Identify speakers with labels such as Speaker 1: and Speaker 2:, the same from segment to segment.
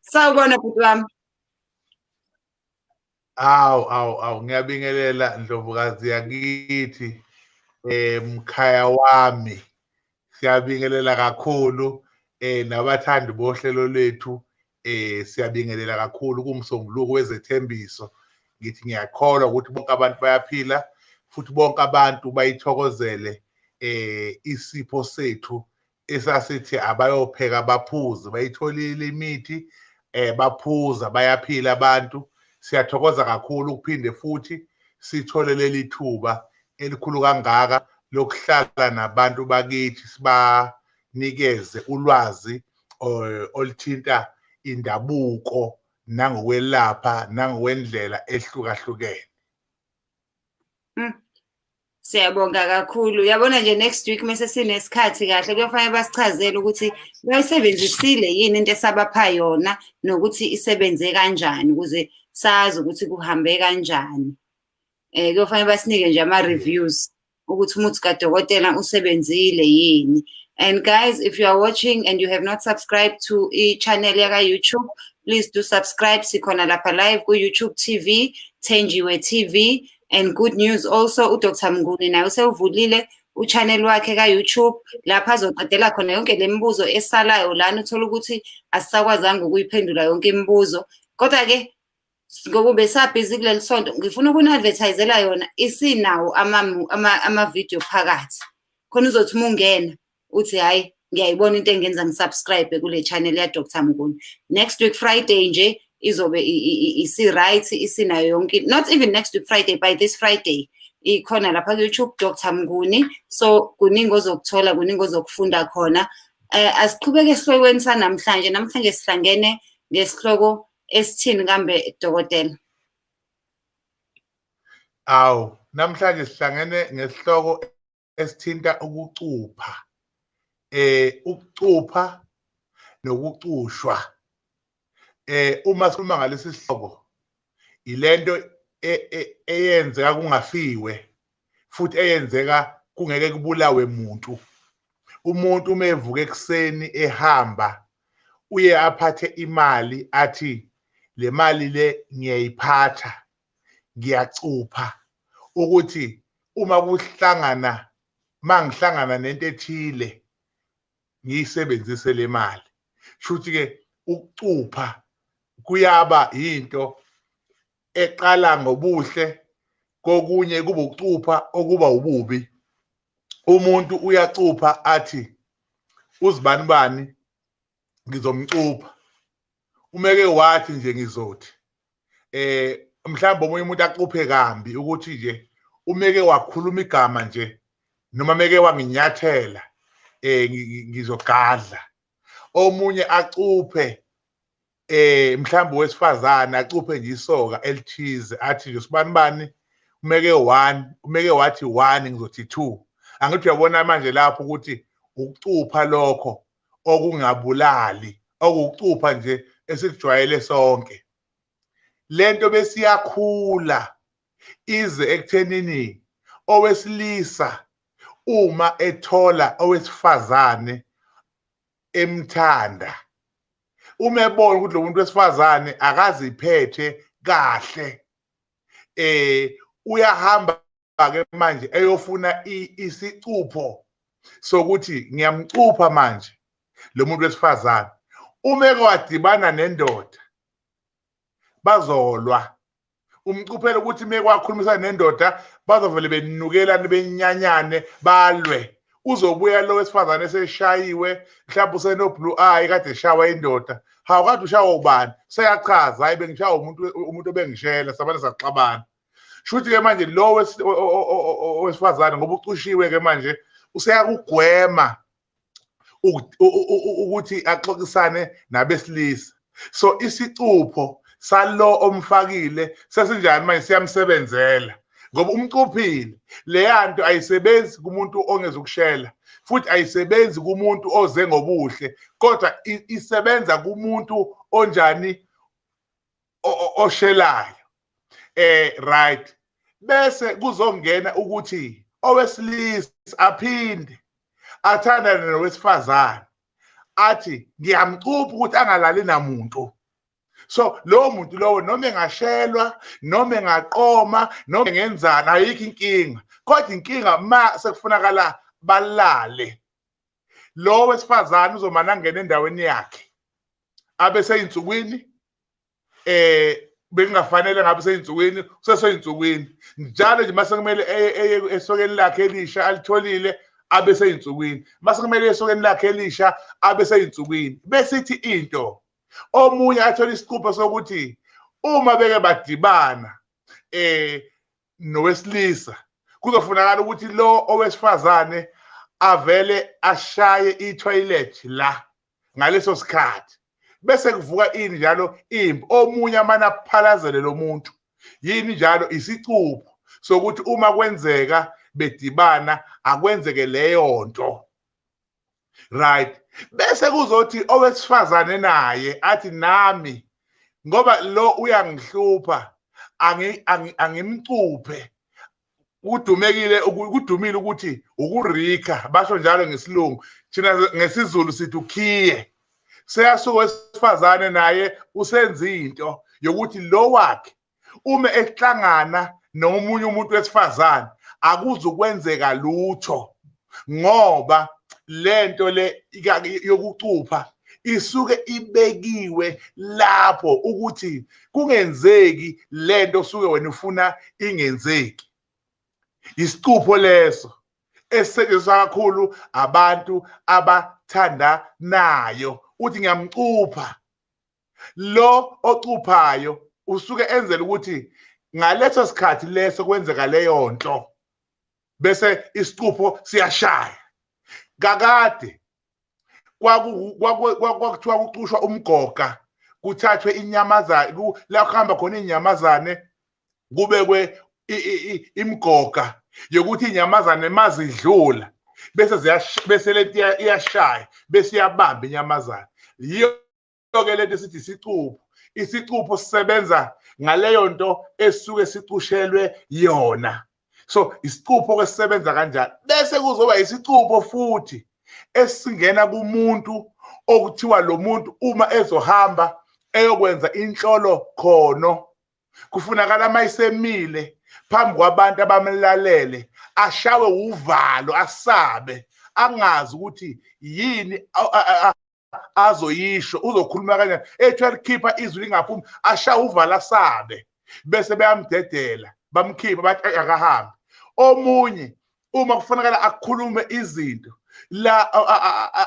Speaker 1: Sawubona bhuti wami. Awu awu awu ngiyabingelela Ndlovukazi yakithi eh mkhaya wami. Siyabingelela kakhulu eh nabathandi bohlelo lwethu eh siyabingelela kakhulu kumsombuluko wezethembiso. Ngithi ngiyakholwa ukuthi bonke abantu bayaphila futhi bonke abantu bayithokozele eh isipho sethu isasithi abayopheka baphuze bayitholile imithi eh baphuza bayaphila abantu siyathokoza kakhulu ukuphinde futhi sithole leli thuba elikhulu kangaka lokuhlala nabantu bakithi sibanikeze ulwazi eh, oluthinta indabuko nangokwelapha nangokwendlela ehlukahlukene mm.
Speaker 2: Siyabonga kakhulu. Yabona nje next week mase sinesikhathi kahle kuyofanele basichazele ukuthi bayisebenzisile yini into esabapha yona nokuthi isebenze kanjani ukuze sazi ukuthi kuhambe kanjani. Eh kuyofanele basinike nje ama reviews ukuthi umuthi kadokotela usebenzile yini. And guys, if you are watching and you have not subscribed to e channel yaka YouTube, please do subscribe sikhona lapha live ku YouTube TV, Thenjiwe TV. and good news also uDr Mnguni naye usewuvulile uchannel wakhe ka-YouTube lapho azoqedela khona yonke le mibuzo esalayo lana uthola ukuthi asisakwazanga ukuyiphendula yonke imibuzo kodwa-ke ngokube sabhizi kuleli sonto ngifuna ukuni-advertisela yona isinawo ama-video phakathi khona uzothi uma ungena uthi hayi ngiyayibona into engenza ngisubscribe kule channel ya Dr Mnguni next week Friday nje izobe isi right isinayo yonke not even next week Friday by this Friday ikhona lapha ku YouTube Dr Mnguni so kuningi ozokuthola kuningi ozokufunda khona eh asiqhubeke esihlokweni sanamhlanje namhlanje sihlangene ngesihloko esithini kambe dokotela
Speaker 1: awu namhlanje sihlangene ngesihloko esithinta ukucupha eh ukucupha nokucushwa eh uma sikhuluma ngalesi sihloko ilento e, e, eyenzeka kungafiwe futhi eyenzeka kungeke kubulawe muntu umuntu uma evuka ekuseni ehamba uye aphathe imali athi le mali le ngiyayiphatha ngiyacupha ukuthi uma kuhlangana mangihlangana nento ethile ngiyisebenzise le mali shuthi ke ukucupha kuyaba into eqala ngobuhle kokunye kuba ukucupha okuba ububi umuntu uyacupha athi uzibani bani ngizomcupha umeke wathi nje ngizothi eh mhlawumbe omunye umuntu acuphe kambi ukuthi nje umeke wakhuluma igama nje noma meke wanginyathela eh ngizogadla omunye acuphe eh mhlawumbe wesifazana acuphe nje isoka elithize athi nje sibani bani umeke 1 umeke wathi 1 ngizothi 2 angithi uyabona manje lapho ukuthi ukucupha lokho okungabulali okucupha nje esikujwayele sonke lento besiyakhula ize ekuthenini owesilisa uma ethola owesifazane emthanda uma ebona ukuthi lo muntu wesifazane akaziphethe kahle eh uyahamba ke manje eyofuna isicupho sokuthi ngiyamcupha manje lo muntu wesifazane uma ekwadibana nendoda bazolwa umcuphelo ukuthi mekwakhulumisa nendoda bazovele benukelane benyanyane balwe uzobuya lo wesifazane eseshayiwe mhlawumbe usenoblue eye kade eshawa indoda hawu kade ushawa ubani seyachaza hayi bengishawa umuntu umuntu obengishela sabane saxabana shuthi ke manje lo wesifazane ngoba ucushiwe ke manje useyakugwema ukuthi axoxisane nabesilisa so isicupho salo omfakile sesinjani manje siyamsebenzela ngoba umcuphile leya nto ayisebenzi kumuntu ongeza ukushela futhi ayisebenzi kumuntu oze ngobuhle kodwa isebenza kumuntu onjani oshelayo eh right bese kuzongena ukuthi owesilisa aphinde athandane nowesifazane athi ngiyamcupha ukuthi angalali namuntu so lowo muntu lowo noma engashelwa noma engaqoma noma engenzani ayikho inkinga kodwa inkinga ma sekufunakala balale lowo wesifazane uzomane angena endaweni yakhe abe seyinsukwini eh bekungafanele ngabe seyinsukwini useseyinsukwini njalo nje mase kumele eye eye esokeni lakhe elisha alitholile abe seyinsukwini mase kumele esokeni lakhe elisha abe seyinsukwini besithi into omunye athola isiqupho sokuthi uma beke badibana eh nowesilisa kuzofunakala ukuthi lo owesifazane avele ashaye i-toilet la ngaleso sikhathi bese kuvuka ini njalo impi omunye amane aphalazele lo muntu yini njalo isicupho sokuthi uma kwenzeka bedibana akwenzeke leyo nto right bese kuzothi owesifazane naye athi nami ngoba lo uyangihlupha angimcuphe kudumekile kudumile ukuthi ukurika basho njalo ngesilungu thina ngesizulu sithi ukhiye seyasuka wesifazane naye usenza into yokuthi lo wakhe uma ehlangana nomunye umuntu wesifazane akuzukwenzeka lutho ngoba lento le yokucupha isuke ibekiwe lapho ukuthi kungenzeki lento osuke wena ufuna ingenzeki isicupho leso esisetshenziswa kakhulu abantu abathandanayo uthi ngiyamcupha lo ocuphayo usuke enzela ukuthi ngaleso sikhathi leso kwenzeka leyo nto bese isicupho siyashaya kakade kwakuthiwa kucushwa umgoga kuthathwe inyamazane la kuhamba khona iy'nyamazane kubekwe imgoga yokuthi iy'nyamazane mazidlula bese bese lento iyashaya bese iyabamba inyamazane yiyo ke lento sithi isicupho isicupho sisebenza ngaleyo nto esuke sicushelwe yona so isicupho ke sisebenza kanjani bese kuzoba isicupho futhi esingena kumuntu okuthiwa lo muntu uma ezohamba eyokwenza inhlolo khono kufunakala uma isemile phambi kwabantu abamlalele ashawe uvalo asabe angazi ukuthi yini azoyisho uzokhuluma kanjani ethi alikhipha izwi lingaphumi asha uvala sabe bese beyamdedela bamkhipha bathi akahambi omunye uma kufanele akhulume izinto la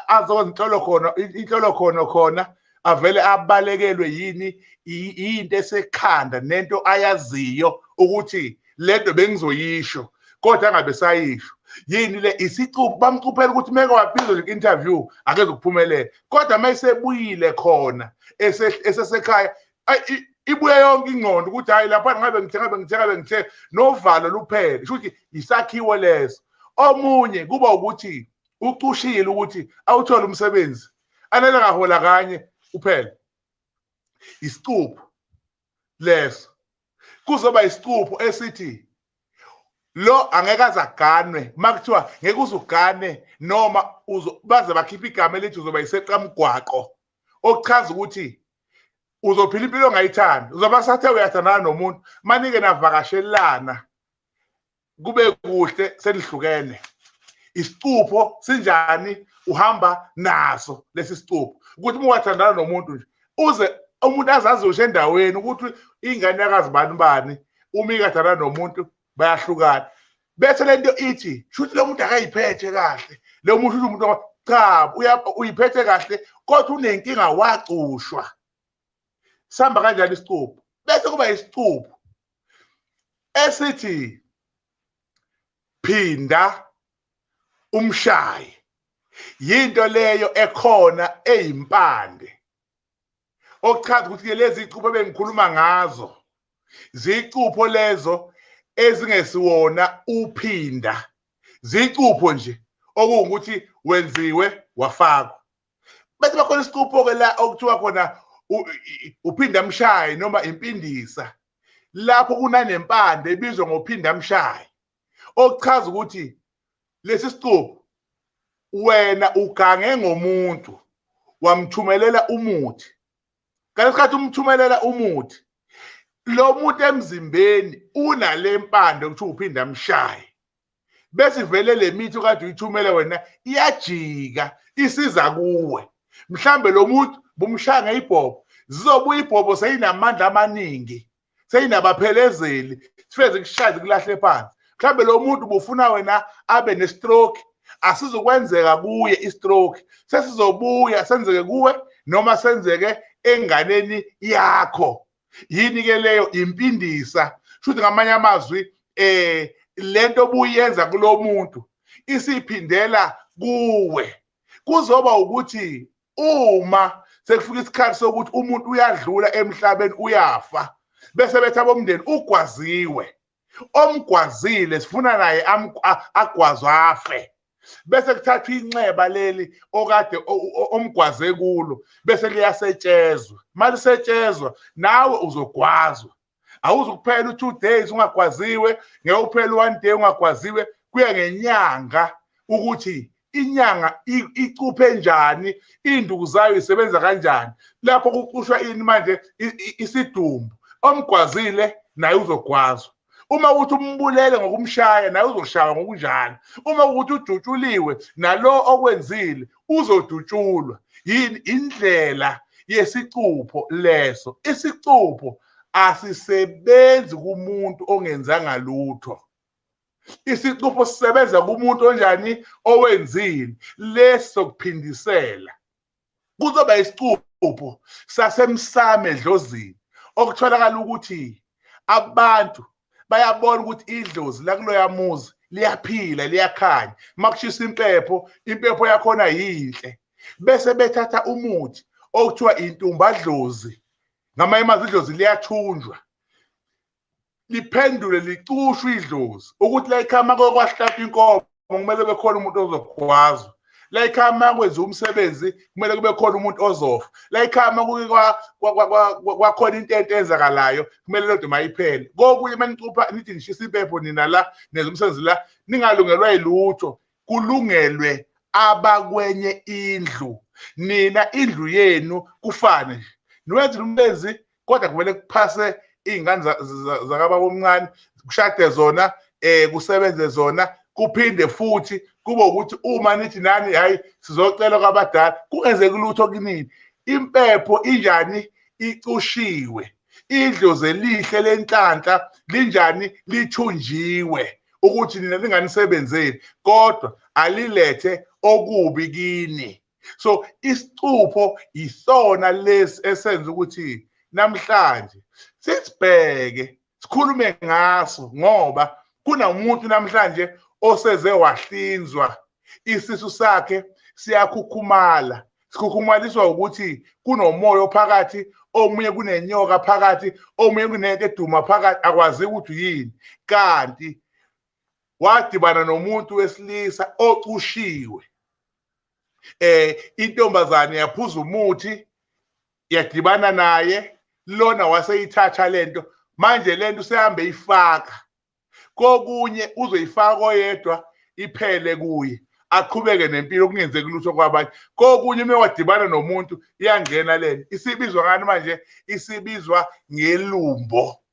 Speaker 1: azokwenza inhlolo khona inhlolo khona khona avele abalekelwe yini into esekhanda nento ayaziyo ukuthi lento bengizoyisho kodwa angabe sayisho yini le isicuphu bamcuphela ukuthi meke wabizo nje interview akeze ukuphumelela kodwa mayisebuyile khona esesekhaya ibuye yonke ingqondo ukuthi hayi lapha ngabe ngithe ngabe ngithe ngabe ngithe novalo luphele kusho ukuthi yisakhiwo leso omunye kuba ukuthi ucushile ukuthi awuthole umsebenzi anele ngahola kanye uphele isicuphu leso kuzoba isicupho esithi lo angeke azaganwe makuthiwa ngeke uzugane noma baze bakhipha igama elithi uzoba iseqamgwaqo okuchaza ukuthi uzophila impilo ongayithandi uzoba sathe uyathandana nomuntu manike navakashelana kube kuhle senihlukene isicupho sinjani uhamba naso lesi sicupho ukuthi uma wathandana nomuntu nje uze umuntu azazi ushe endaweni ukuthi ingane yakazi bani bani uma ikathandana nomuntu bayahlukana bese lento ithi shuthi lo muntu akayiphethe kahle lo muntu shuthi umuntu cha uyiphethe kahle kodwa unenkinga wacushwa sihamba kanjani isicupho bese kuba isicupho esithi phinda umshayi yinto leyo ekhona eyimpande okuchaza ukuthi ke lezi icupho bengikhuluma ngazo zicupho lezo ezingesiwona uphinda zicupho nje okuwukuthi wenziwe wafakwa bese bakhona isicupho-ke la okuthiwa khona uphindamshayi noma impindisa lapho kunanempande ebizwa ngophindamshayi okuchaza ukuthi lesi sicupho wena ugange ngomuntu wamthumelela umuthi ngalesikhathi umthumelela umuthi lo muntu emzimbeni unale mpande okuthiwa uphindamshayi bese ivele le mithi okade uyithumele wena iyajika isiza kuwe mhlambe lo muntu bumshaya ngeyibhobo zizobuya ibhobo seyinamandla amaningi seyinabaphelezeli sifeze kushaze kulahle phansi mhlambe lo muntu bufuna wena abe nestroke asizokwenzeka kuye istroke sesizobuya senzeke kuwe noma senzeke enganeni yakho yini ke leyo impindisa shuthi ngamanye amazwi eh lento obuyenza kulomuntu isiphindela kuwe kuzoba ukuthi uma sekufika isikhathi sokuthi umuntu uyadlula emhlabeni uyafa bese bethi abomndeni ugwaziwe omgwazile sifuna naye agwazwe afe bese kuthathwa inxeba leli okade omgwaze kulo bese liyasetshezwa malisetshezwa nawe uzogwazwa awuzukuphela u2 days ungagwaziwe ngeke uphele one day ungagwaziwe kuya ngenyanga ukuthi inyanga icuphe njani induku zayo isebenza kanjani lapho kucushwa ini manje isidumbu omgwazile naye uzogwazwa uma ukuthi umbulele ngokumshaya naye uzoshaywa ngokunjalo uma ukuthi udutshuliwe nalo okwenzile uzodutshulwa yini indlela yesicupho leso isicupho asisebenzi kumuntu ongenzanga lutho isicupho sisebenza kumuntu onjani owenzile leso kuphindisela kuzoba isicupho sasemsame edlozini okutholakala ukuthi abantu bayabona ukuthi idlozi lakuloya muzi liyaphila liyakhanya makushisa impepho impepho yakhona yinhle bese bethatha umuthi okuthiwa intumbadlozi ngamanye amazwi idlozi liyathunjwa liphendule licushwe idlozi ukuthi la ikhama kwakwahlatha inkomo kumele bekhona umuntu ozokhwazwa la ikhama kwenza umsebenzi kumele kube khona umuntu ozofa la ikhama kwakhona into ento enzakalayo kumele lodwa mayiphele kokunye uma nicupha nithi nishisa impepho nina la nenza umsebenzi la ningalungelwa yilutho kulungelwe abakwenye indlu nina indlu yenu kufane nje niwenza umsebenzi kodwa kumele kuphase iy'ngane zakababa omncane kushade zona um kusebenze zona kuphinde futhi kube ukuthi uma nithi nani hhayi sizocela kwabadala kungenzeki lutho kunini impepho injani icushiwe idlozi elihle lenhlanhla linjani lithunjiwe ukuthi nina linganisebenzeli kodwa alilethe okubi kini so isicupho yisona lesi esenza ukuthi namhlanje sisibheke sikhulume ngaso ngoba kunomuntu namhlanje oseze wahlinzwa isisu sakhe siyakhukhumala sikhukhumaliswa ukuthi kunomoya ophakathi omunye kunenyoka phakathi omunye kunento eduma phakathi akwazi ukuthi yini kanti wadibana nomuntu wesilisa ocushiwe eh intombazane yaphuza umuthi yadibana naye lona waseyithatha lento manje lento usehambe ifaka kokunye uzoyifaka oyedwa iphele kuye aqhubeke nempilo kungenzeki lutho kwabanye kokunye uma wadibana nomuntu iyangena lento isibizwa ngani manje isibizwa ngelumbo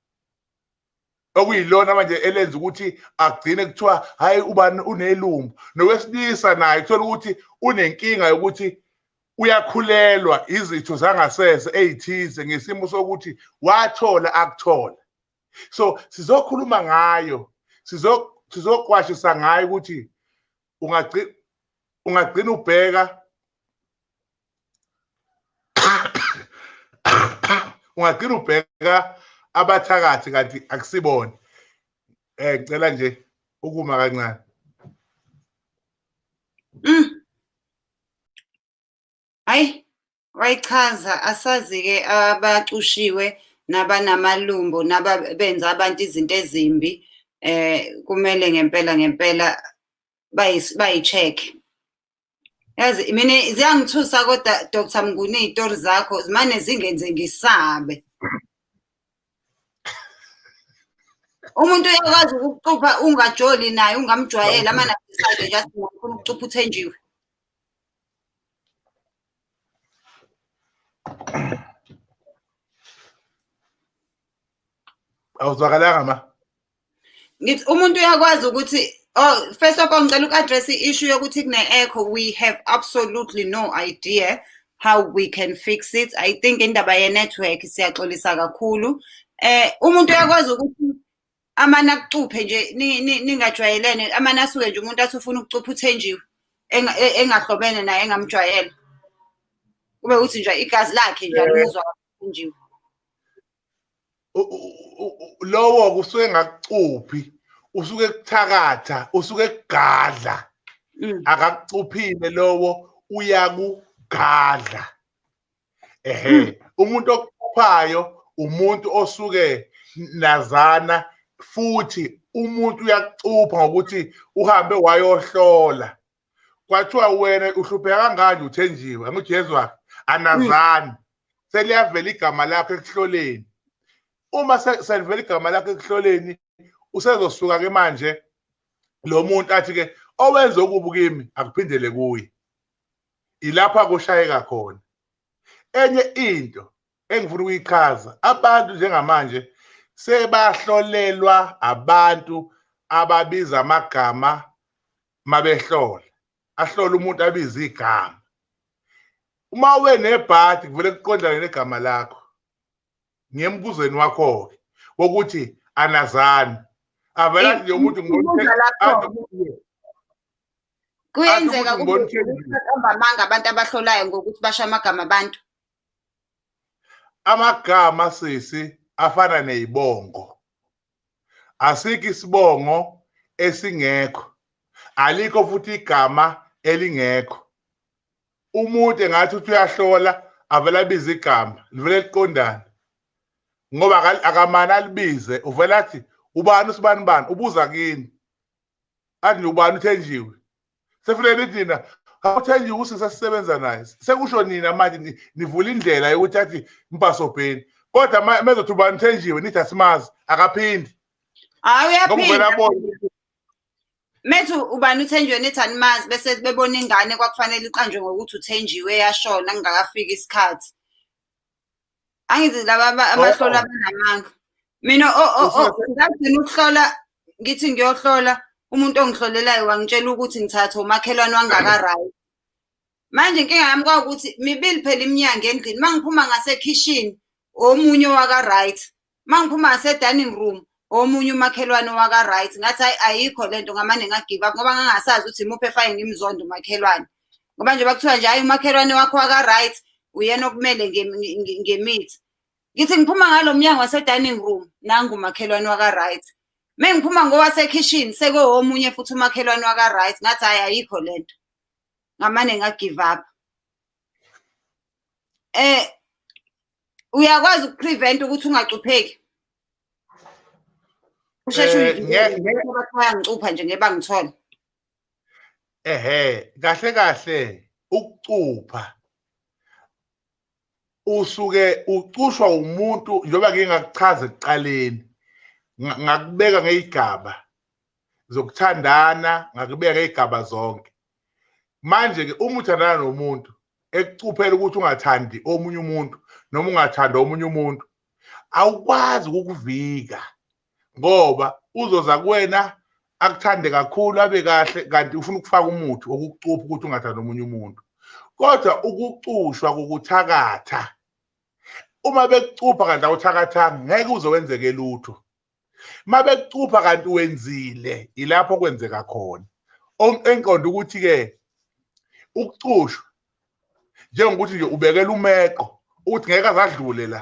Speaker 1: okuyilona manje elenza ukuthi agcine kuthiwa hayi ubani unelumbu nowesilisa naye kuthola ukuthi unenkinga yokuthi uyakhulelwa izitho zangasese ezithize ngesimo sokuthi wathola akuthola so sizokhuluma ngayo sizokwashisa ngayo ukuthi ungagcina ungagcina ubheka ungagcina ubheka abathakathi kanti akusibona eh ngicela nje ukuma kancane mm.
Speaker 2: Hayi wayichaza asazi-ke abacushiwe nabanamalumbo nababenza abantu izinto ezimbi eh kumele ngempela ngempela bayi-check yazi mina ziyangithusa kodwa dr mnguni iy'tori zakho zimane zingenze ngisabe umuntu uyakwazi ukucupha ungajoli naye ungamjwayeli amanabisade nje athi ngifuna ukucupha uthenjiwe
Speaker 1: awuzwakalanga ma ngithi
Speaker 2: umuntu uyakwazi ukuthi oh first of all ngicela uku-address i-issue yokuthi kune-echo we have absolutely no idea how we can fix it i think indaba ye-network siyaxolisa kakhulu eh umuntu uyakwazi ukuthi amane akucuphe nje ningajwayelene amane asuke nje umuntu athi ufuna ukucupha uthenjiwe e-, engahlobene naye engamjwayele kube ukuthi nje igazi lakhe nje alimuzwa uthenjiwe
Speaker 1: lowo kusuke ngakucuphi usuke kuthakatha usuke kugadla mm. akakucuphile lowo uyakugadla ehe hmm. umuntu okuphuphayo umuntu osuke nazana futhi umuntu uyakucupha ngokuthi uhambe wayohlola kwathiwa wena uhlupheka kangani uthenjiwe angujesu wakhe anazani hmm. seliyavela igama lakho ekuhloleni uma selivela igama lakho ekuhloleni usezosuka ke manje lo muntu athi ke owenze okubi kimi akuphindele kuye ilapha kushayeka khona enye into engifuna ukuyichaza abantu njengamanje sebahlolelwa abantu ababiza amagama mabehlola ahlola umuntu abiza igama uma ube nebhadi kuvele kuqondane negama lakho ngiyembuzweni wakho-ke wokuthi anazani avela nje umuntu
Speaker 2: kuyenzeka kuqamba amanga abantu abahlolayo ngokuthi basho amagama abantu
Speaker 1: amagama sisi afana nezibongo asikho isibongo esingekho alikho futhi igama elingekho umuntu engathi uthi uyahlola avele abize igama livele liqondane ngoba akamane alibize uvele athi ubani usibani bani ubuza kini athi ubani uthenjiwe sefuna nithi nina awuthenjiwe usisi esisebenza naye sekusho nina manje nivula indlela yokuthi athi mpasobheni kodwa mezothi ubani uthenjiwe nithi asimazi akaphindi hayi
Speaker 2: uyaphinda methu ubani uthenjiwe nithi animazi bese bebona ingane kwakufanele iqanjwe ngokuthi uthenjiwe yashona kungakafiki isikhathi angithi laba abahlola oh, oh. abanamanga mina ngagcina ukuhlola ngithi ngiyohlola umuntu ongihlolelayo wangitshela ukuthi ngithatha umakhelwane wangakarayi manje inkinga yami kwawukuthi mibili phela iminyango endlini uma ngiphuma ngasekhishini omunye waka-right uma ngiphuma ngase-dining room omunye umakhelwane waka-right ngathi hayi ayikho le nto ngamane ngagive up ngoba ngangasazi ukuthi imuphi efake ngimzonda umakhelwane ngoba nje bakuthiwa nje hhayi umakhelwane wakho waka-right uyena okumele ngemithi ngithi ngiphuma ngalo mnyango wase-dining room nangu umakhelwane waka-right me ngiphuma ngowasekhishini sekowomunye futhi umakhelwane waka-right ngathi hhayi ayikho le nto ngamane ngagive up eh uyakwazi ukuprevent ukuthi ungacupheki usheshe eh, uyangicupha nje ngeke bangithola ehe
Speaker 1: kahle kahle ukucupha usuke ucushwa umuntu njengoba ngingakuchaza ekuqaleni ngakubeka ngeyigaba zokuthandana ngakubeka igaba zonke manje ke uma uthandana nomuntu ekucuphela ukuthi ungathandi omunye umuntu noma ungathanda omunye umuntu awukwazi ukukuvika ngoba uzoza kuwena akuthande kakhulu abe kahle kanti ufuna ukufaka umuthi wokukucupha ukuthi ungathandi omunye umuntu kodwa ukucushwa kokuthakatha uma bekucupha kanti awuthakathanga ngeke uze wenzeke lutho mabekucupha kanti wenzile ilapho kwenzeka khona enqonda ukuthi ke ukucushwa njengokuthi nje ubekela umeqo ukuthi ngeke azadlule la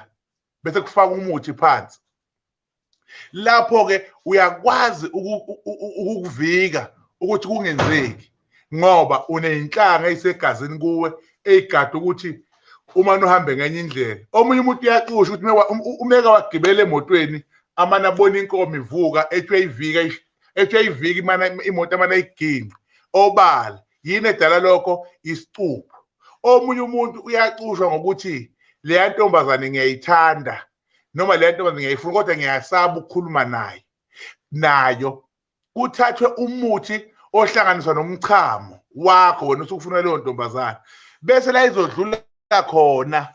Speaker 1: bese kufaka umuthi phansi lapho ke uyakwazi ukuvika ukuthi kungenzeki ngoba uneyinhlanga eyisegazini kuwe eyigada ukuthi uma nuhambe ngenye indlela omunye umuntu uyaxusha ukuthi umeka wagibela emotweni amane abona inkomo ivuka ethwe ivika ethwe ivika imana imoto amane ayiginqe obala yini edala lokho isicupho omunye umuntu uyaxushwa ngokuthi leya ntombazane ngiyayithanda noma leya ntombazane ngiyayifuna kodwa ngiyasaba ukukhuluma naye nayo kuthathwe umuthi ohlanganiswa nomchamo wakho wena usukufuna leyo ntombazana bese la izodlula khona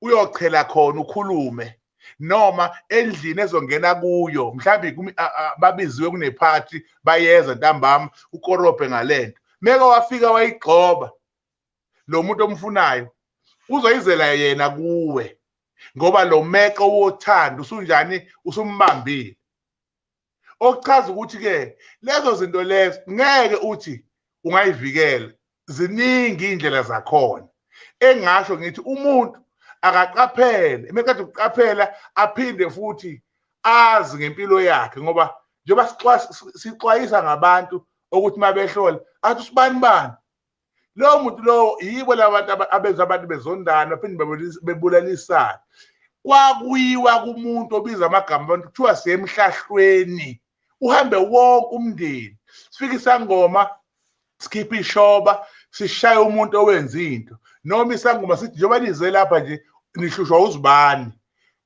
Speaker 1: uyochela khona ukhulume noma endlini ezongena kuyo mhlawumbe babiziwe kunephathi bayeza ntambama ukorobhe ngalento meke wafika wayigxoba lo muntu omfunayo uzoyizela yena kuwe ngoba lo meqo wothando usunjani usumbambile okuchaza ukuthi ke lezo zinto lezo ngeke uthi ungayivikela ziningi indlela zakhona engasho ngithi umuntu akaqaphele emeqeda ukuqaphela aphinde futhi azi ngempilo yakhe ngoba njengoba sixwayisa ngabantu ukuthi mabehlola athi usibani bani lowo muntu lowo yibo laba bantu abenza abantu bezondana baphinde bebulalisana kwakuyiwa kumuntu obiza amagama abantu kuthiwa siyemhlahlweni uhambe wonke umndeni sifike isangoma sikhiphe ishoba sishaye umuntu owenza into noma isangoma sithi njengoba nize lapha nje nihlushwa uzibani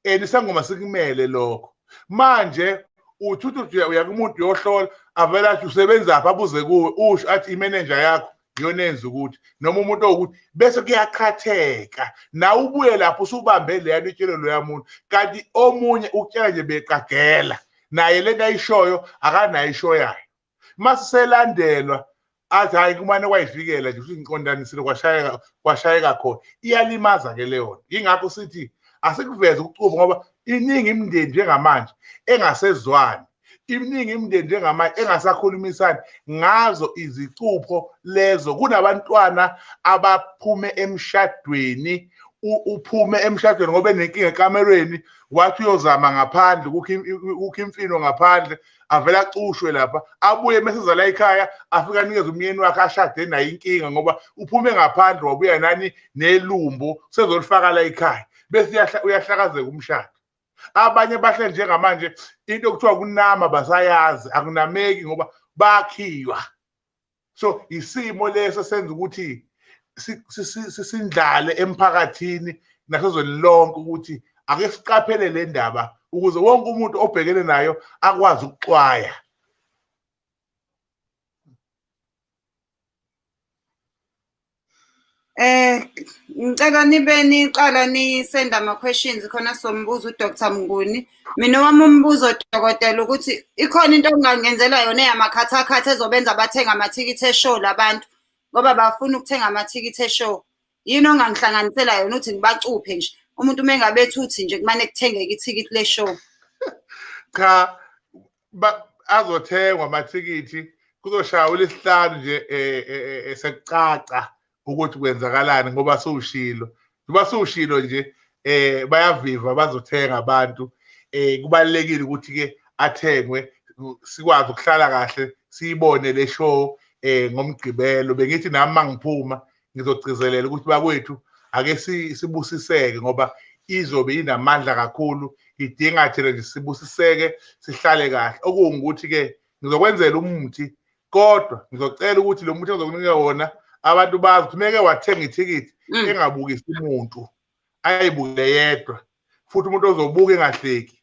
Speaker 1: and isangoma sikumele lokho manje uthuthu uya kumuntu uyohlola avele athi usebenzaphi abuze kuwe usho athi imenenja yakho iyona enza ukuthi noma umuntu owukuthi bese kuyaqhatheka nawe ubuye lapho usubambe leya nto itshele loya muntu kanti omunye ukutshela nje beqagela naye le nto ayishoyo akanayo ishoyayo uma siselandelwa athi hhayi kumane kwayivikela nje futhi ngiqondanisile kwashayeka kwashayeka khona iyalimaza ke leyona yingakho sithi asikuveze ukucuba ngoba iningi imindeni njengamanje engasezwani iminingi imindeni njengamanje engasakhulumisani ngazo izicupho lezo kunabantwana abaphume emshadweni uphume emshadweni ngoba enenkinga ekamerweni wathi uyozama ngaphandle kukho imfino ngaphandle avele acushwe lapha abuye meseza la ekhaya afike anikeze umyeni wakhe ashade naye inkinga ngoba uphume ngaphandle wabuya nani nelumbo sezolifaka la ekhaya bese uyahlakazeka umshado abanye bahle njengamanje into okuthiwa kunama basayazi akunameki ngoba bakhiywa so isimo leso senza ukuthi sisindlale emphakathini nasezweni lonke ukuthi ake siqaphele le ndaba ukuze wonke umuntu obhekene nayo akwazi ukuxwaya
Speaker 2: Eh ngicela nibe niqala nisenda ama questions khona sombuza uDr Mnguni. Mina wami umbuzo dokotela ukuthi ikhona into engangenzela yona eyamakhathakhatha ezobenza bathenga amathikithi eshow labantu ngoba bafuna ukuthenga amathikithi eshow. Yini ongangihlanganisela yona ukuthi ngibacuphe nje. Umuntu uma engabethuthi nje kumane kuthengeke ithikithi le show. Cha
Speaker 1: azothengwa amathikithi kuzoshaya ulesihlanu nje esekucaca eh, eh, eh, ukuthi kwenzakalani ngoba siwushilo njengoba siwushilo nje um bayaviva bazothenga abantu um kubalulekile ukuthi-ke athengwe sikwazi ukuhlala kahle siyibone le show um ngomgqibelo bengithi nami uma ngiphuma ngizogcizelela ukuthi bakwethu ake sibusiseke ngoba izobe inamandla kakhulu idinga thina nje sibusiseke sihlale kahle okungukuthi-ke ngizokwenzela umuthi kodwa ngizocela ukuthi lo muthi engizokunika wona abantu bazi ukuthi meke wathenga ithikithi mm. engabukisi umuntu ayibukele yedwa futhi umuntu ozobuka engahleki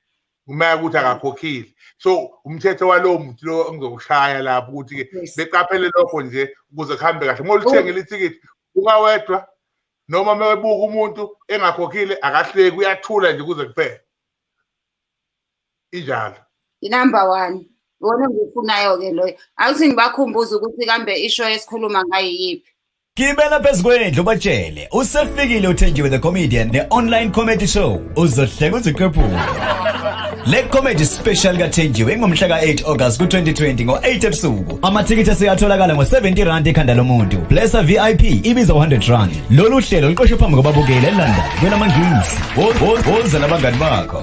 Speaker 1: kumele ukuthi akakhokhile so umthetho walowo muntu lo engizowushaya lapho ukuthi-ke beqaphele lokho nje ukuze kuhambe kahle uma oluthengile oh. ithikithi ungawedwa noma mewebuka umuntu engakhokhile akahleki uyathula nje kuze kuphele injalo inumber
Speaker 2: one wona ngikufunayo-ke loyo awuthi ngibakhumbuze ukuthi kambe isho esikhuluma ngayo yiphi Gibela phezu
Speaker 3: kwendlu batshele usefikile uthenjiwe the comedian ne online comedy show uzohleka uziqephule Le comedy special kathenjiwe ingomhla ka-8 August ku-2020 ngo-8 ebusuku. Amathikithi aseyatholakala ngo-70 rand ekhanda lomuntu. Blessa VIP ibiza 100 rand. Lolu hlelo luqoshwe phambi kwababukeli eLondon kwelamangisi. Woza nabangani bakho.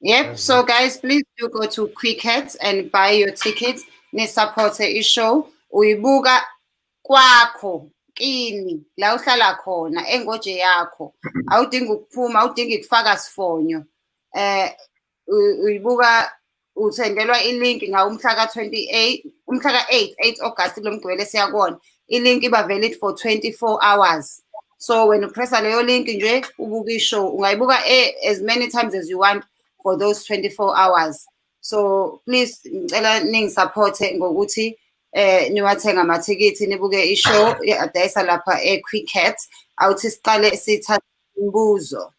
Speaker 2: Yep. So guys, please do go to Quick Hits and buy your tickets. Ni support a show. Uyibuka kwakho kini la uhlala khona engoje yakho. Awudingi ukuphuma, awudingi kufaka sifonyo. Eh uyibuka uthengelwa ilink ngawo umhla ka-28 umhla ka-8 8 August lo mgibelo esiyakona ilink iba valid for 24 hours so wena upressa leyo link nje ubuka ishow ungayibuka eh, as many times as you want for those 24 hours so please ngicela ningisupporte ngokuthi eh niwathenga amathikithi nibuke ishow adayisa lapha eQuicket awuthi siqale sithatha imibuzo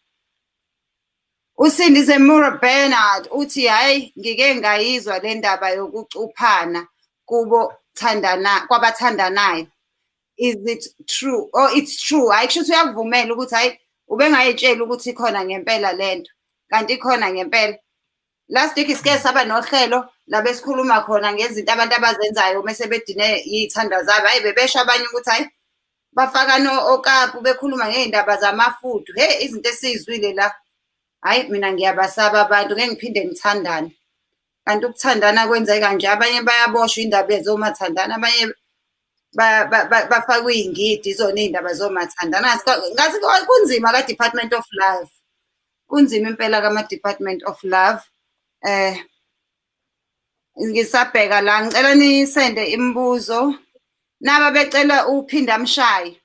Speaker 2: USindise Mura Bernard uthi hhayi ngike ngayizwa le ndaba yokucuphana kubo thandana kwabathandanayo is it true or oh, it's true hhayi kusho ukuthi uyakuvumela ukuthi hhayi ubengayitsheli ukuthi khona ngempela le nto kanti ikhona ngempela last week sike saba nohlelo labe sikhuluma khona ngezinto abantu abazenzayo uma sebedine iy'thanda zabo hhayi bebesho abanye ukuthi hhayi bafakane okapu bekhuluma ngey'ndaba zamafudu hheyi izinto esiyizwile la hhayi mina ngiyabasaba abantu ngeke ngiphinde ngithandane kanti ukuthandana kwenzeka kanje abanye bayaboshwa indaba ezomathandana abanye bafakwe iy'ngidi zona iy'ndaba zomathandana ngathi kunzima ka-department of life Kunzima impela kama Department of Love. Eh ngisabheka la ngicela nisende imibuzo. Naba becela uphinda amshaye.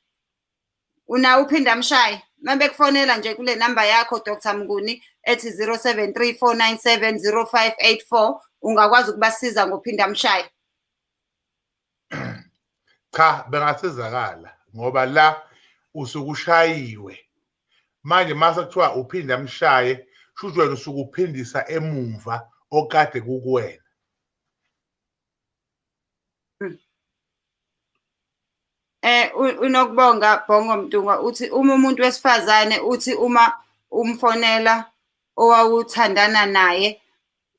Speaker 2: Una uphinda amshaye. Mabekufonela nje kule number yakho Dr Mnguni ethi 0734970584 ungakwazi ukubasiza ngophinda amshaye.
Speaker 1: cha bengasizakala ngoba la usuke ushayiwe manje mase kuthiwa uphinde amshaye shuthi wena usuke uphindisa emumva okade kukuwena
Speaker 2: eh unokubonga Bhongo Mntungwa uthi uma umuntu wesifazane uthi uma umfonela owawuthandana naye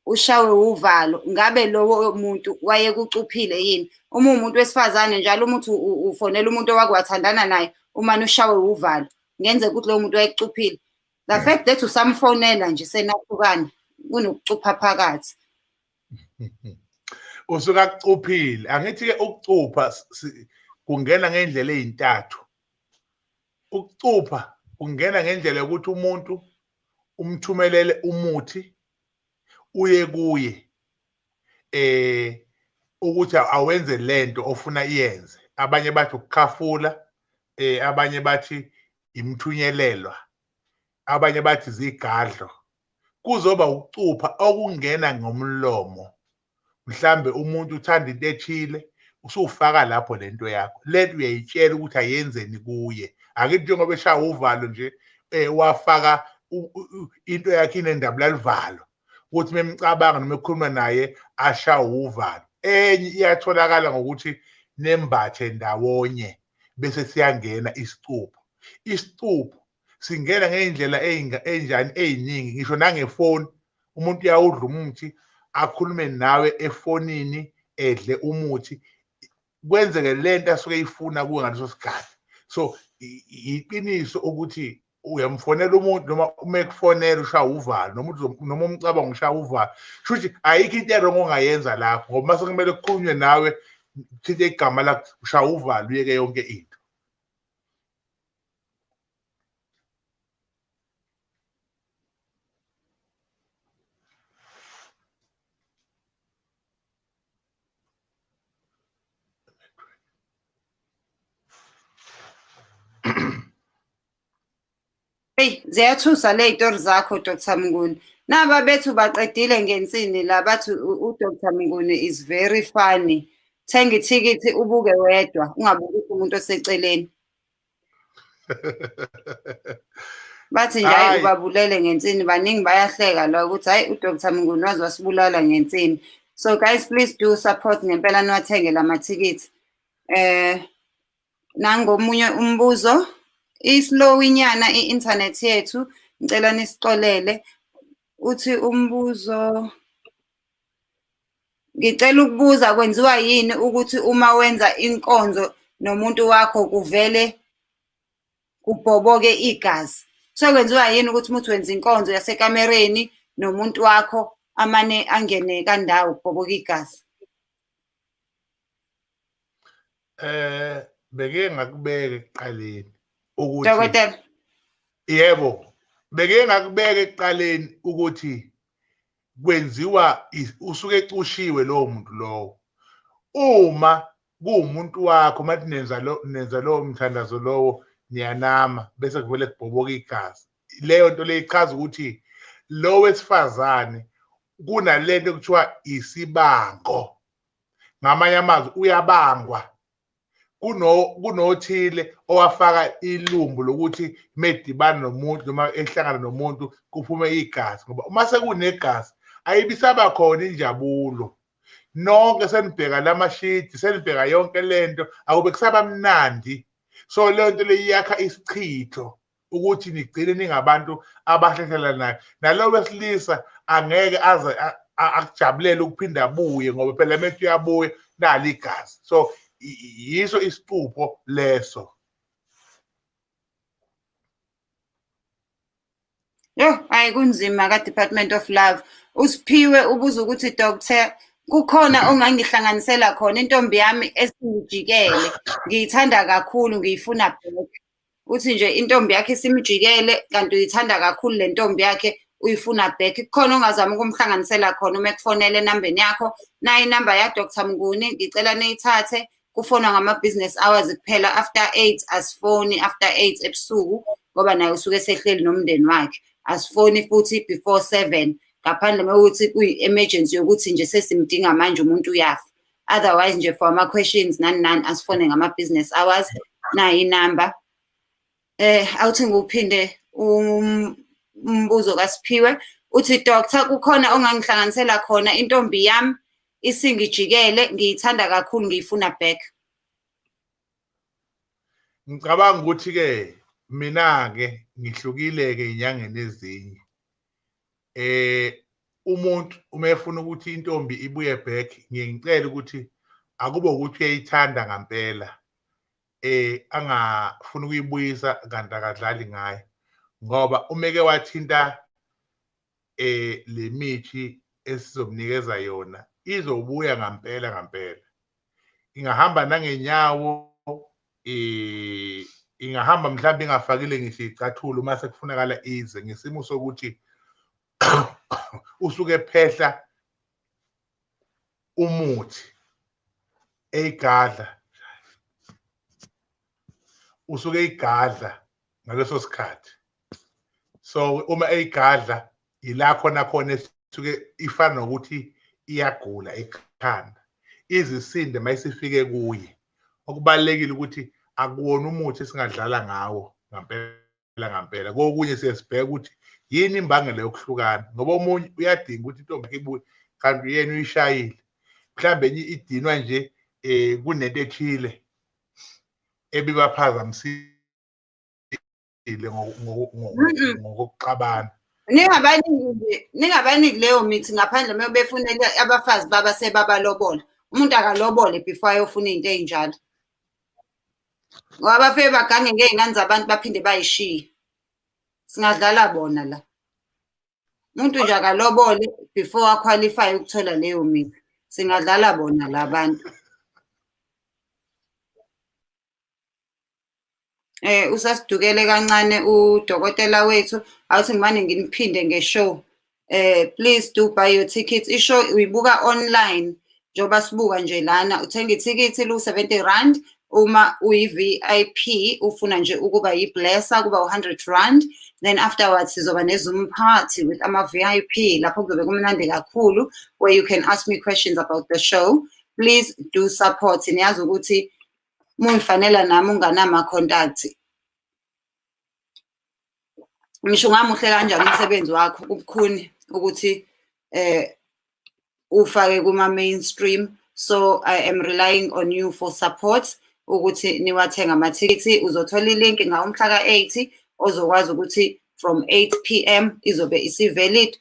Speaker 2: ushawe uvalo ngabe lowo muntu wayekucuphile yini uma umuntu wesifazane njalo umuthi ufonela umuntu owakwathandana naye uma ushawe uvalo ngenzeka ukuthi lowo muntu wayekucuphile the hmm. fact that usamfonela nje senahlukana kunokucupha phakathi
Speaker 1: usuka kucuphile angithi ke ukucupha kungena ngendlela ezintathu ukucupha kungena ngendlela yokuthi umuntu umthumelele umuthi uye kuye eh ukuthi awenze lento ofuna iyenze abanye bathi ukukhafula eh abanye bathi imthunyelelwa abanye bathi zigadlo kuzoba ukucupha okungena ngomlomo mhlambe umuntu uthanda into ethile usufaka lapho lento yakho lento uyayitshela ukuthi ayenzeni kuye akithi njengoba eshaya uvalo nje eh wafaka into yakhe inendaba lalivalo ukuthi memcabanga noma ekhuluma naye asha uvalo enye iyatholakala ngokuthi nembathe ndawonye bese siyangena isicupho isicupho singena ngey'ndlela ey'njani ey'ningi ngisho nangefoni umuntu uyawudla umuthi akhulume nawe efonini edle umuthi kwenzeke le nto asuke eyifuna kuwe ngaleso sikhathi so yiqiniso ukuthi uyamfonela umuntu noma uma ekufonela ushaya uvalo noma noma umcabango ushaya uvalo kusho ukuthi ayikho into erongo ongayenza lapho ngoba mase kumele kukhulunywe nawe kuthinta igama lakho ushaya uvalo uyeke yonke into
Speaker 2: Hey ziyathusa le itori zakho Dr Mnguni. Naba bethu baqedile ngensini la bathi uDr Mnguni is very funny. Thenga ithikithi ubuke wedwa ungabuki umuntu oseceleni. bathi nje hayi ubabulele ngensini baningi bayahleka la ukuthi hayi udr mnguni waze wasibulala ngensini so guys please do support ngempela niwathenge la mathikithi eh nangomunye umbuzo islow inyana i-internet yethu ngicela nisixolele uthi umbuzo Ngicela ukubuza kwenziwa yini ukuthi uma wenza inkonzo nomuntu wakho kuvele kubhoboke igazi? So kwenziwa yini ukuthi uma uthi wenza inkonzo yasekamereni nomuntu wakho amane angene kandawo kubhoboke igazi?
Speaker 1: Eh beke ngakubeke ekuqaleni ukuthi Dokotela Yebo beke
Speaker 2: ngakubeke
Speaker 1: ekuqaleni ukuthi kwenziwa usuke ecushiwe lowo muntu lowo uma kuwumuntu wakho mathi nenza lo nenza lowo mthandazo lowo niyanama bese kuvele kubhoboka igazi leyo nto leyo ichaza ukuthi lo wesifazane kunale nto kuthiwa isibango ngamanye amazwi uyabangwa kunothile owafaka ilumbu lokuthi medibana nomuntu noma ehlangana nomuntu kuphume igazi ngoba uma sekunegazi ayibisaba khona injabulo nonke senibheka la mashidi senibheka yonke le nto akube kusaba mnandi so leyo nto leyo iyakha isichitho ukuthi nigcine ningabantu abahlehlelanayo nalo wesilisa angeke aze akujabulele ukuphinda abuye ngoba phela manje uyabuya nali igazi so yiso isicupho leso
Speaker 2: Yo, hayi kunzima ka Department of Love. Usiphiwe ubuza ukuthi doctor kukhona ongangihlanganisela khona intombi yami esingijikele ngiyithanda kakhulu ngiyifuna back uthi nje intombi yakhe isimjikele kanti uyithanda kakhulu le ntombi yakhe uyifuna back kukhona ongazama ukumhlanganisela khona uma ekufonela enambeni yakho nayo inamba ya Dr Mnguni ngicela niyithathe kufonwa ngama-business hours kuphela after eight asifoni after eight ebusuku ngoba naye usuke esehleli nomndeni wakhe asifoni futhi before seven ngaphandle mewukuthi kuyi-emergency yokuthi nje sesimdinga manje umuntu uyafa otherwise nje for ama questions nani nani asifone ngama business hours nayi number eh awuthi ngiphinde um, umbuzo kaSiphiwe uthi doctor kukhona ongangihlanganisela khona intombi yami isingijikele ngiyithanda kakhulu ngiyifuna back
Speaker 1: ngicabanga ukuthi ke mina ke ngihlukile ke inyangeni ezinye eh umuntu uma efuna ukuthi intombi ibuye back ngiye ngicela ukuthi akube ukuthi uyayithanda ngampela eh angafuni ukuyibuyisa kanti akadlali ngayo ngoba umeke wathinta eh lemithi esizomnikeza yona izobuya ngampela ngampela ingahamba nangenyawo eh ingahamba mhlawumbe ingafakile ngisho icathulo uma sekufunakala ize ngesimo sokuthi usuke phehla umuthi eyigadla usuke eyigadla ngaleso sikhathi so uma eyigadla yila khona khona esuke ifana nokuthi iyagula ekhanda izisinde mayisifike kuye okubalekile ukuthi akuwona umuthi esingadlala ngawo ngampela ngampela kokunye siyesibheka ukuthi yini imbangela yokuhlukana ngoba omunye uyadinga ukuthi intombi yakhe ibuye kanti uyena uyishayile mhlawumbe enye idinwa nje um kunento ethile ebibaphazamisile ejulile ngokokuxabana ningabaniki
Speaker 2: ningabaniki leyo mithi ngaphandle uma befunela abafazi baba sebabalobola umuntu akalobole before ayofuna into ezinjalo ngoba bafike bagange ngey'ngane zabantu baphinde bayishiye singadlala bona la umuntu nje akalobole before aqualify ukuthola leyo mithi singadlala bona la bantu Eh usasidukele kancane udokotela wethu awuthi ngimane nginiphinde ngeshow. Eh please do buy your tickets. Ishow uyibuka online njengoba sibuka nje lana uthenga ithikithi lu 70 rand uma uyi-VIP ufuna nje ukuba yi-blesser kuba u-100 rand then afterwards sizoba ne-zoom party with ama-VIP lapho kuzobe kumnandi kakhulu where you can ask me questions about the show please do support niyazi ukuthi mungifanela nami unganama contact ngisho ungamuhle kanjani umsebenzi wakho kubukhuni ukuthi eh ufake kuma mainstream so i am relying on you for support ukuthi niwathenga amathikithi uzothola ilink ngawumhla ka-80 ozokwazi ukuthi from 8 pm izobe isivalid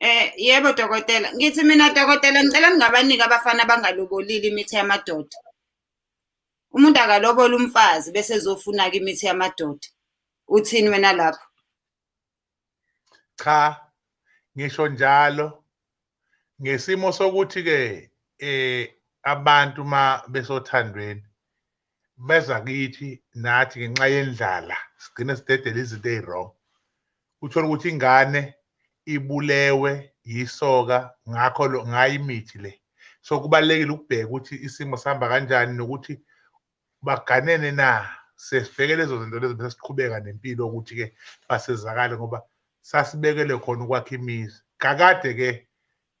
Speaker 3: Eh
Speaker 2: yebo dokotela, ngithi mina dokotela ngicela ningabaniki abafana abangalobolile imithi yamadoda. Umuntu akalobola umfazi bese ezofuna-ke imithi yamadoda. Uthini wena lapho? Cha,
Speaker 1: ngisho njalo ngesimo sokuthi-ke eh abantu uma besothandweni beza kithi nathi ngenxa yendlala sigcine sidedela izinto eziwrong uthola ukuthi ingane ibulewe yisoka ngakho lo ngayi imithi le so kubalekile ukubheka ukuthi isimo sihamba kanjani nokuthi baganene na sesibheke lezo zinto lezo bese siqhubeka nempilo ukuthi ke basizakale ngoba sasibekele khona ukwakha imizi kakade ke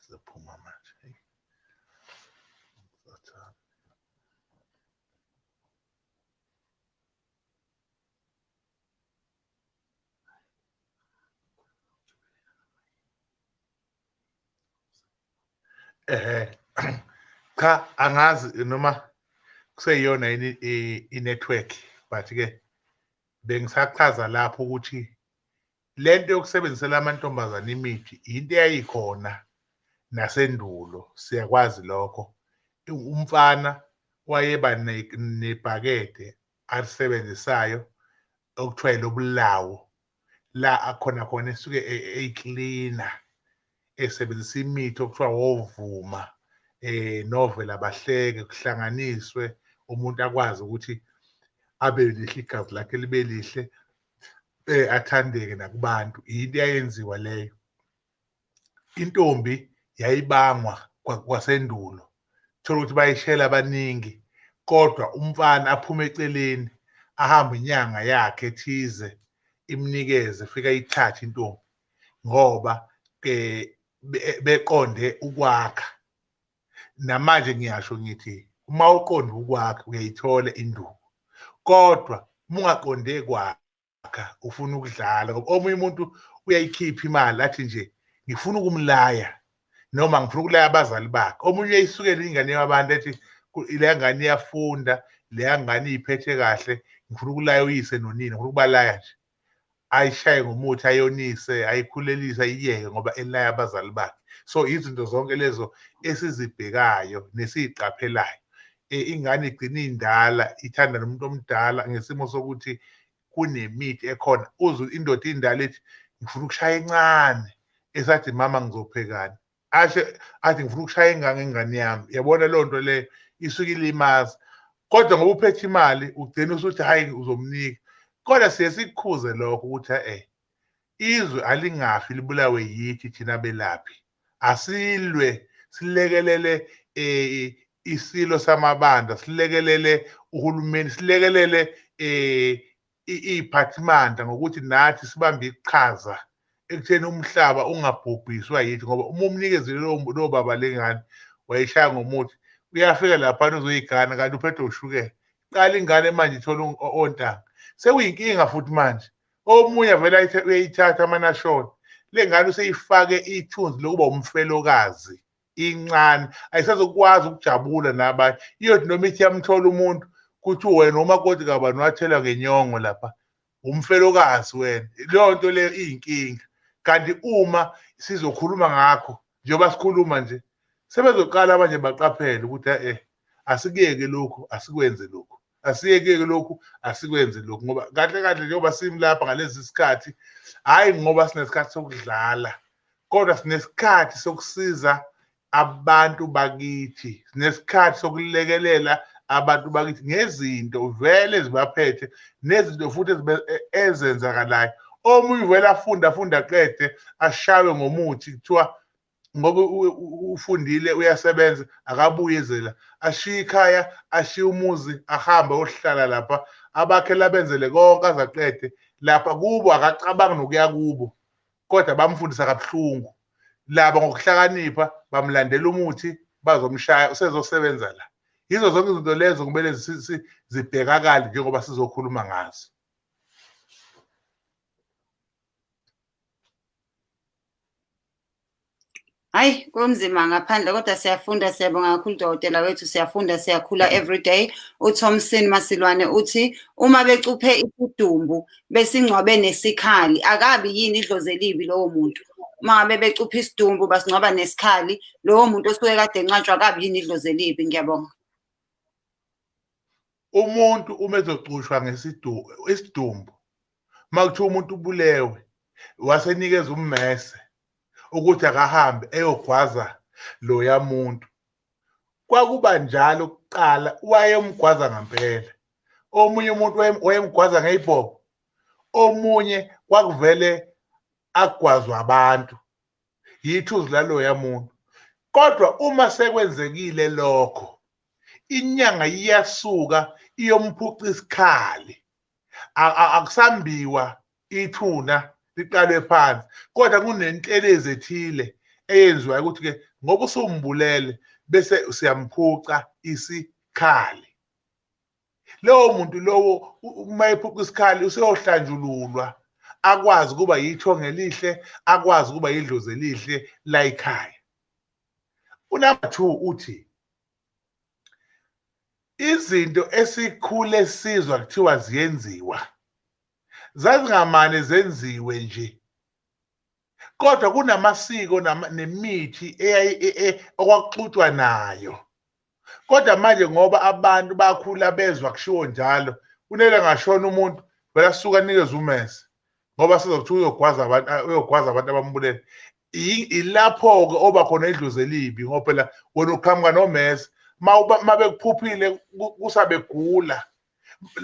Speaker 1: Sizophuma manje. Hey. Sathane. Eh cha angazi noma kuseyiyona yini i- i-network but ke bengisachaza lapho ukuthi lento yokusebenzisela amantombazane imithi yinto eyayikhona nasendulo siyakwazi lokho umfana wayeba nebhakede alisebenzisayo okuthiwa lobulawo la akhona khona esuke e, e, eyiklina esebenzisa imithi okuthiwa wovuma eh novela bahleke kuhlanganiswe umuntu akwazi ukuthi abe lihle igazi lakhe libe lihle eh athandeke nakubantu into yayenziwa leyo intombi yayibangwa kwasendulo thola ukuthi bayishela abaningi kodwa umfana aphume eceleni ahambe inyanga yakhe ethize imnikeze fika ithathe intombi ngoba eh beqonde ukwakha namanje ngiyasho ngithi uma uqonda ukwakhe uyayithola induku kodwa mungaqonde kwakha ufuna ukudlala ngoba omunye umuntu uyayikhipha imali athi nje ngifuna ukumlaya noma ngifuna ukulaya abazali bakhe omunye uyayisukela ingane yabantu ethi le ngane iyafunda le ngane iyiphethe kahle ngifuna ukulaya uyise nonina ngifuna ukubalaya nje ayishaye ngomuthi ayonise ayikhulelise ayiyeke ngoba elaya abazali bakhe so izinto zonke lezo esizibhekayo nesiyiqaphelayo e, ingane igcina indala ithanda nomuntu omdala ngesimo sokuthi kunemithi ekhona uze indoda indala ethi ngifuna ukushaya encane esathi mama ngizophekani ashe athi ngifuna ukushaya ingane ingane yami yabona leyo nto le isuke ilimaza kodwa ngoba uphethe imali ugcina usuthi hhayi uzomnika kodwa siye sikukhuze lokho ukuthi e-e izwe alingafi libulawe yithi thina belaphi asilwe silekelele um isilo samabandla silekelele uhulumeni silekelele um iy'phathimandla ngokuthi nathi sibambe iqhaza ekutheni umhlaba ungabhubhiswa yithi ngoba uma umnikezile lowo baba lengane wayishaya ngomuthi uyafika laphana uzoyigana kanti uphethe ushukela qala ingane manje ithola ontanga sekuyinkinga futhi manje omunye vele uyayithatha amanashona le ngane useyifake ithunzi lokuba umfelokazi incane ayisazokwazi ukujabula nabanye iyothi noma ithi yamthola umuntu kuthi wena umakoti kabani wathelwa ngenyongo lapha umfelokazi wena leyo nto leyo iyinkinga kanti uma sizokhuluma ngakho njengoba sikhuluma nje sebezoqala abanje baqaphele ukuthi eh asikuyeke lokhu asikwenze lokhu asiyekeke lokhu asikwenze lokhu ngoba kahle kahle njengoba simlapha ngalezi sikhathi hhayi ngoba sinesikhathi sokudlala kodwa sinesikhathi sokusiza abantu bakithi sinesikhathi sokulekelela abantu bakithi ngezinto vele ezibaphethe nezinto futhi e, ezenzakalayo omunye uvele afunde afunde aqede ashawe ngomuthi kuthiwa ngoba ufundile uyasebenza akabuye zela ashiye ikhaya ashiye umuzi ahambe ohlala lapha abakhe labenzele konke azaqede lapha kubo akacabangi nokuya kubo kodwa bamfundisa kabuhlungu laba ngokuhlakanipha bamlandela umuthi bazomshaya usezosebenza la yizo zonke izinto lezo kumele zibhekakale njengoba sizokhuluma ngazo
Speaker 2: hayi kunzima ngaphandle kodwa siyafunda siyabonga kakhulu dokotela wethu siyafunda siyakhula everyday uthomson masilwane uthi uma becuphe isidumbu besingcwabe nesikhali akabi yini idlozi elibi lowo muntu uma ngabe becuphe isidumbu basingcwaba nesikhali lowo muntu osuke kade encatshwa akabi yini idlozi elibi ngiyabonga
Speaker 1: umuntu uma ezocushwa ngesidumbu isidumbu uma kuthiwa umuntu ubulewe wasenikeza ummese ukuthi akahambe eyogwaza loya muntu kwakuba njalo kuqala wayemgwaza ngampela omunye umuntu wayemgwaza ngeyibhobo omunye kwakuvele agwazwa abantu yithuzi laloya muntu kodwa uma sekwenzekile lokho inyanga iyasuka iyomphuca isikhali akusambiwa ithuna liqalwe phansi kodwa kunentelezi ethile eyenziwayo ukuthi-ke ngoba usumbulele bese siyamphuca isikhali lowo muntu lowo uma ephuca isikhali useyohlanjululwa akwazi ukuba yithonga elihle akwazi ukuba yidlozi elihle layikhaya unumber two uthi izinto esikhule sizwa kuthiwa ziyenziwa zazingamane zenziwe nje kodwa kunamasiko nemithi e, e, e, okwakuxutshwa nayo kodwa manje ngoba abantu bakhula bezwa kushiwo njalo kunele ngashona umuntu vele asuke anikeze umese ngoba sizokuthiwa uyogwaza abantu uyogwaza abantu abambulele ilapho-ke oba khona idlozi elibi ngoba phela wena uqhamuka nomese uma bekuphuphile kusabegula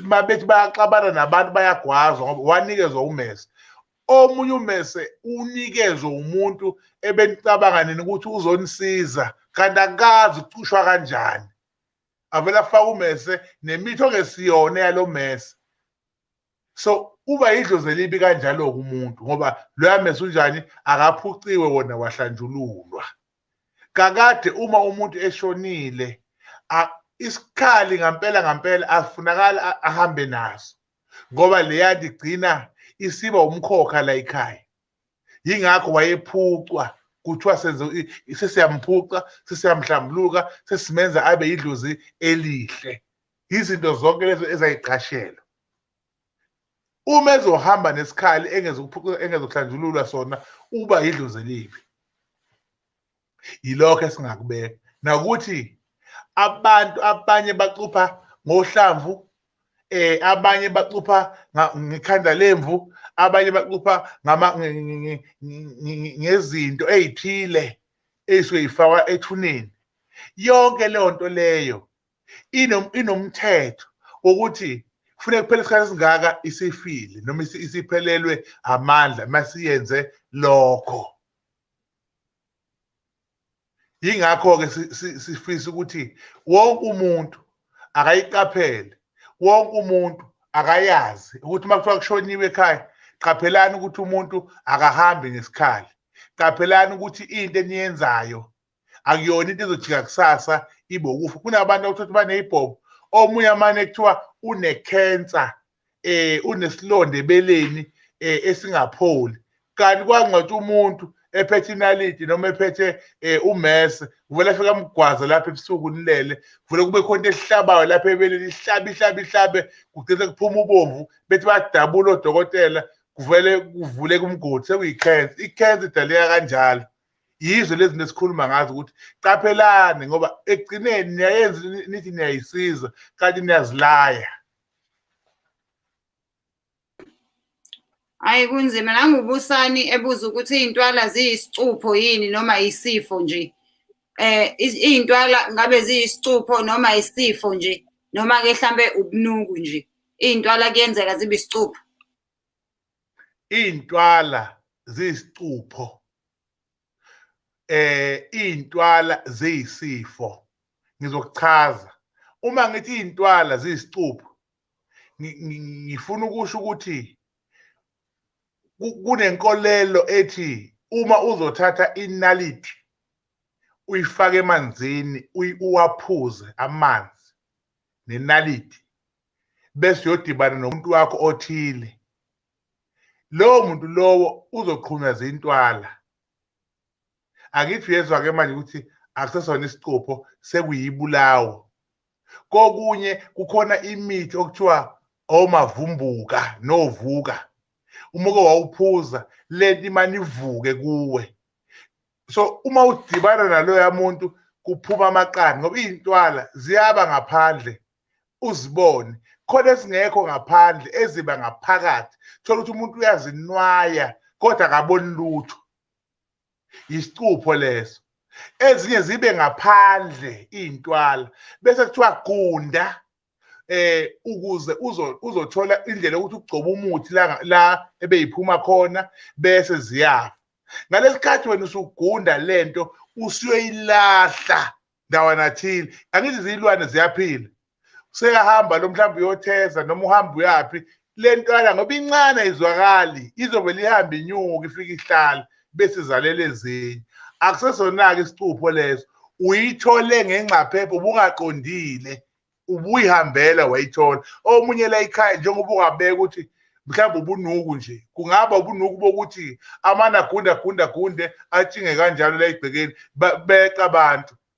Speaker 1: uma bethi bayaxabana nabantu bayagwazwa ngoba wanikezwa umese omunye umese unikezwe umuntu ebenicabanga nini ukuthi uzonisiza kanti akazi ukucushwa kanjani avele afake umese nemithi ongesiyona yalo mese so uba idlozi elibi kanjalo-ke umuntu ngoba loya mese unjani akaphuciwe wona wahlanjululwa kakade uma umuntu eshonile isikhali ngampela ngampela afunakala ahambe naso ngoba leya ligcina isiba umkhokha la ekhaya yingakho wayephucwa kuthiwa senze sesiyampuca sesiyamhlambuluka sesimenza abe idlozi elihle izinto zonke lezo ezayiqashelwa uma ezohamba nesikhali engezokuhlanjululwa sona uba yidlozi elibi yilokho esingakubeka nakuthi abantu abanye bacupha ngohlamvu eh abanye bacupha ngekhanda lemvu abanye bacupha ngama ngezinto ezithile ezifakwa ethuneni yonke leyo nto leyo inomthetho wokuthi kufuneka kuphele isikhathi esingaka isifile noma isiphelelwe amandla masiyenze lokho yingakho-ke sifisa ukuthi wonke umuntu akayiqaphele wonke umuntu akayazi ukuthi uma kuthiwa kushoniwe ekhaya qaphelani ukuthi umuntu akahambi ngesikhali qaphelani ukuthi into eniyenzayo akuyona into ezojika kusasa ibe ukufa kunabantu okuthothi baneyibhobo omunye amane kuthiwa unekhensa eh unesilonda ebeleni eh, esingapholi kanti kwangcwatha umuntu ephethe inaliti noma ephethe eh, umese kuvele afika amgwaza lapha ebusuku nilele kuvele kube khona into esihlabayo lapha ebeleni ihlabe ihlabe ihlabe kugcine kuphuma ubomvu bethi badabula odokotela kuvele kuvuleka umgodi sekuyikhensa ikhensa idaleka kanjalo yizo lezi zinto esikhuluma ngazo ukuthi qaphelani ngoba ekugcineni niyayenza nithi niyayisiza kanti niyazilaya hayi
Speaker 2: kunzima nangubusani ebuza ukuthi iy'ntwala ziyisicupho yini noma yisifo nje eh iy'ntwala ngabe ziyisicupho noma yisifo nje noma-ke hlampe ubunuku nje iy'ntwala kuyenzeka zibe isicupho
Speaker 1: iy'ntwala ziyisicupho eh iy'ntwala ziyisifo ngizokuchaza uma ngithi iy'ntwala ziyisicupho ngifuna ukusho ukuthi kunenkolelo ethi uma uzothatha inaliti uyifake emanzini uwaphuze amanzi nenaliti bese uyodibana nomuntu wakho othile lowo muntu lowo uzoqhunywa zintwala angithi uyezwa-ke manje ukuthi akusesona isicupho sekuyibulawo kokunye kukhona imithi okuthiwa omavumbuka novuka uma uke wawuphuza lento imane ivuke kuwe so uma udibana naloya muntu kuphuma amaqanda ngoba iy'ntwala ziyaba ngaphandle uzibone khona esingekho ngaphandle eziba ngaphakathi thola ukuthi umuntu uyazinwaya kodwa akaboni lutho yisicupho leso ezinye zibe ngaphandle iy'ntwala bese kuthiwa gunda eh ukuze uzothola indlela ukuthi ugcoba umuthi la la ebeyiphuma khona bese ziyafa ngalesikhathi wena usugunda lento usuyoyilahla ndawana thile angithi zilwane ziyaphila seyahamba lo mhlawumbe uyotheza noma uhamba uyaphi le ntwana ngoba incane ayizwakali izovele ihambe inyuka ifike ihlala bese izalela ezinye akusesona-ke isicupho leso uyithole ngengcaphephe ubungaqondile ubuyihambela wayithola omunye la ikhaya njengoba ungabeka ukuthi mhlawumbe ubunuku nje kungaba ubunuku bokuthi amana gunda gunda gunde atshinge kanjalo la ibhekeni beqa abantu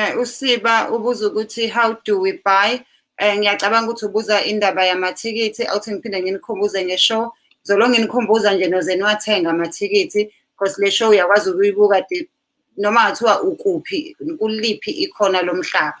Speaker 2: Eh usiba ubuza ukuthi how do we buy? Eh ngiyacabanga ukuthi ubuza indaba yamathikithi awuthi ngiphinde nginikhumbuze ngeshow. Zolo nginikhumbuza nje noze niwathenga amathikithi because le show uyakwazi ukuyibuka noma ngathiwa ukuphi kuliphi ikhona lomhlaba.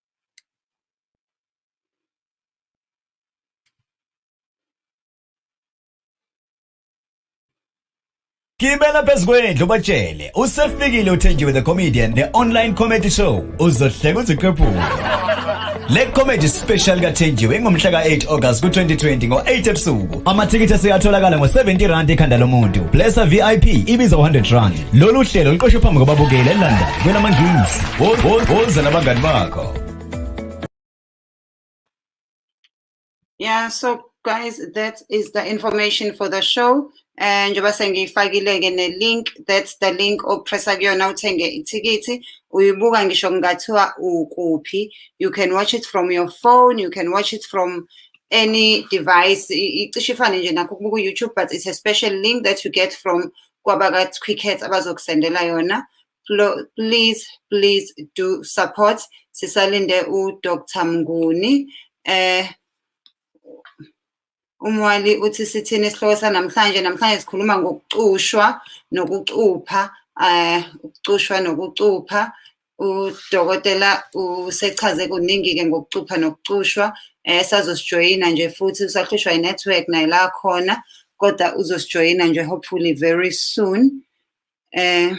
Speaker 3: Gibela phezu kwendlu batshele usefikile uthenjiwe the comedian the online comedy show uzohleka uziqephule le comedy special kathenjiwe ingomhla ka-8 August ku-2020 ngo-8 ebusuku Amathikithi aseyatholakala ngo-70 rand ekhanda lomuntu. Blessa VIP ibiza 100 rand. Lolu hlelo luqoshwe phambi kwababukeli eLondon kwelamangisi. Woza nabangani bakho.
Speaker 2: Yeah, so guys, that is the information for the show. Eh njengoba sengiyifakile ke ne link that's the link opressa kuyona uthenge ithikithi uyibuka ngisho kungathiwa ukuphi you can watch it from your phone you can watch it from any device icishe ifane nje nakho kubuka u-youtube but it's a special link that you get from kwabaka-cricket abazokusendela yona please please do support sisalinde udr mnguni eh umwali uthi sithini isihloko sanamhlanje namhlanje sikhuluma ngokucushwa nokucupha eh ukucushwa nokucupha udokotela usechaze kuningi-ke ngokucupha nokucushwa um sazosijoyina nje futhi usahlushwa i-network naye la khona kodwa uzosijoyina nje hopefully very soon um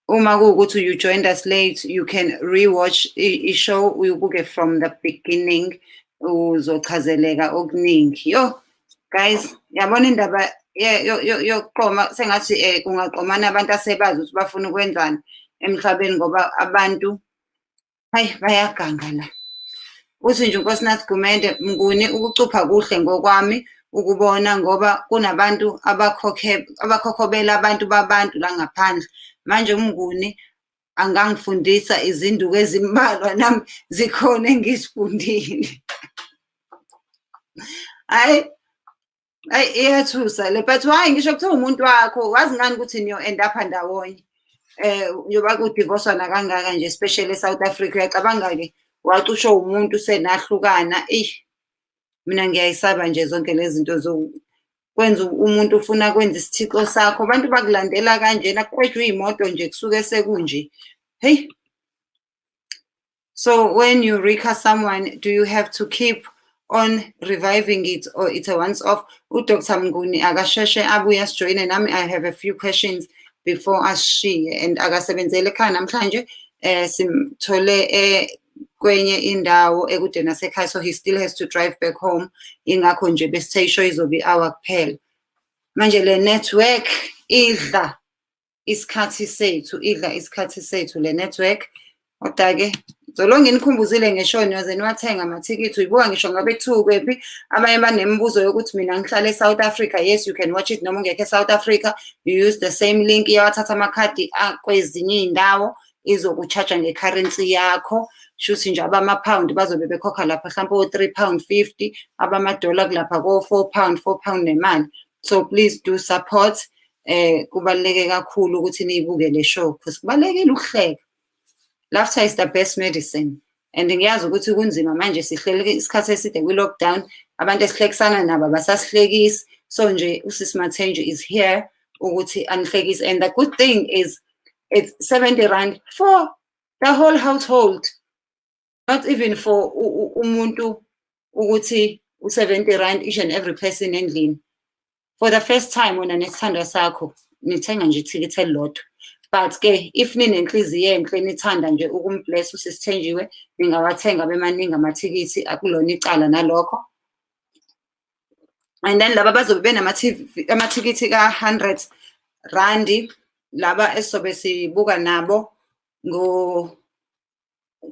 Speaker 2: uma kuwukuthi you joined us late you can rewatch i-show uyubuke from the beginning uzochazeleka okuningi yo guys yabona indaba yokuqoma sengathi um kungaqomana abantu asebazi ukuthi bafuna ukwenzani emhlabeni ngoba abantu hayi bayaganga la uthi nje unkosinathi gumende mnguni ukucupha kuhle ngokwami ukubona ngoba kunabantu abakhokhobela abantu babantu la ngaphandle manje umnguni angangifundisa izinduku ezimbalwa nami zikhona engizifundile hayi ayi iyathusa le but why ngisho kuthiwa umuntu wakho wazi ngani ukuthi niyo-end apha ndawonye eh njengoba kudivorcwa nakangaka nje especially eSouth Africa uyacabanga-ke wacushwa umuntu senahlukana eish mina ngiyayisaba nje zonke lezi zinto zokwenza umuntu ufuna kwenza isithixo sakho abantu bakulandela kanjena kuqedwa iy'moto nje kusuke sekunje heyi so when you rika someone do you have to keep on reviving it or it's a once off udr mnguni akasheshe abuye asijoyine nami i have a few questions before ashiye and akasebenzeli ekhaya namhlanje um simthole eh, kwenye indawo ekude nasekhaya so he still has to drive back home ingakho nje besithe isho izobe i-hour kuphela manje le network idla isikhathi sethu idla isikhathi sethu le network kodwa-ke zolo nginikhumbuzile ngesho niyoze niwathenga amathikithi uyibuka ngisho ngabe kuthiwa ukwephi abanye banemibuzo yokuthi mina ngihlale e-south africa yes you can watch it noma ungekho e-south africa you use the same link iyawathatha amakhadi akwezinye iy'ndawo izokucharge ngecurrency yakho shuthi nje abama-pound bazobe bekhokha lapha mhlawumpe o-three pound fifty abamadola kulapha ko-four pound four pound nemali so please do support eh kubaluleke kakhulu ukuthi niyibuke le show because kubalekile ukuhleka laughter is the best medicine and ngiyazi ukuthi kunzima manje sihleleke isikhathi eside kwi-lockdown abantu esihlekisana nabo abasasihlekisi so nje usisi mathenju is here ukuthi anihlekise and the good thing is it's 70 rand for the whole household not even for umuntu ukuthi u-70 rand each and every person endlini for the first time wena nesithandwa sakho nithenga nje ithikithi elilodwa but ke if ninenhliziyo enhle nithanda nje ukumbless usisithenjiwe ningawathenga bemaningi amathikithi akulona icala nalokho and then laba bazobe benamathikithi ka-hundred randi laba esizobe sibuka nabo ngo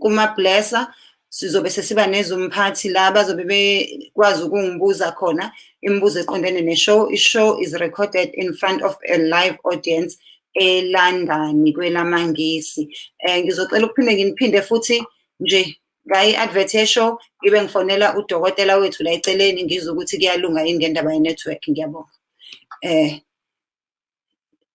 Speaker 2: kumablesser sizobe sesiba nezomphathi la bazobe bekwazi ukungibuza khona imibuzo eqondene ne-show i-show is recorded in front of a live audience elandani kwelamangisi um ngizocela ukuphinde nginiphinde futhi nje ngayi-advert ye-show ngibe ngifonela udokotela wethu la eceleni ngizwe ukuthi kuyalunga yini ngendaba ye-network ngiyabonga um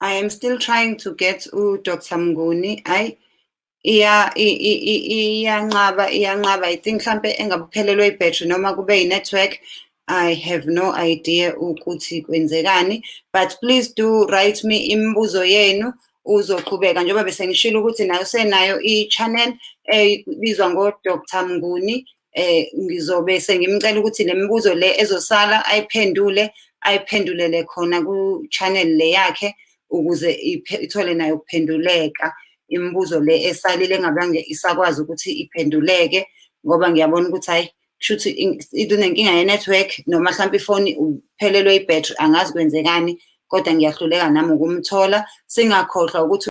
Speaker 2: I am still trying to get u Dr Mnguni I iya iyanqaba iyanqaba i think mhlambe engabuphelelwe ibattery noma kube i network I have no idea ukuthi kwenzekani but please do write me imibuzo yenu uzoqhubeka njengoba bese ngishilo ukuthi nayo senayo i channel ebizwa ngo Dr Mnguni eh ngizobe sengimcela ukuthi lemibuzo le ezosala ayiphendule ayiphendulele khona ku channel le yakhe ukuze ithole nayo ukuphenduleka imibuzo le esalile ngabange isakwazi ukuthi iphenduleke ngoba ngiyabona ukuthi hayi kushuthi idunenkinga ye network noma mhlawumbe ifoni uphelelwe i battery angazi kwenzekani kodwa ngiyahluleka nami ukumthola singakhohlwa ukuthi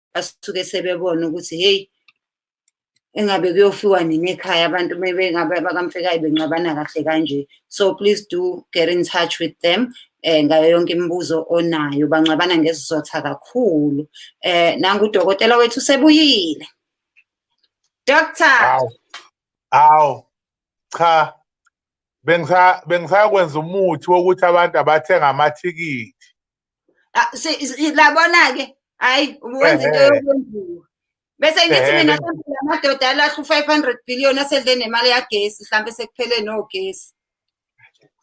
Speaker 2: basuke sebebona ukuthi hey engabe kuyofiwa nini ekhaya abantu mebengabe bakamfekayo benqabana kahle kanje so please do get in touch with them eh ngayo yonke imibuzo onayo banqabana ngesizotha kakhulu eh nangu udokotela wethu sebuyile doctor aw aw
Speaker 1: cha bengisa bengisakwenza umuthi wokuthi abantu abathenga amathikithi Ah,
Speaker 2: labona-ke hhayi ubuwenza into yokwenziwa bese ngithi mina sempela amadoda alahle u-five hundred billion asedle nemali yagesi mhlawumbe sekuphele nogesi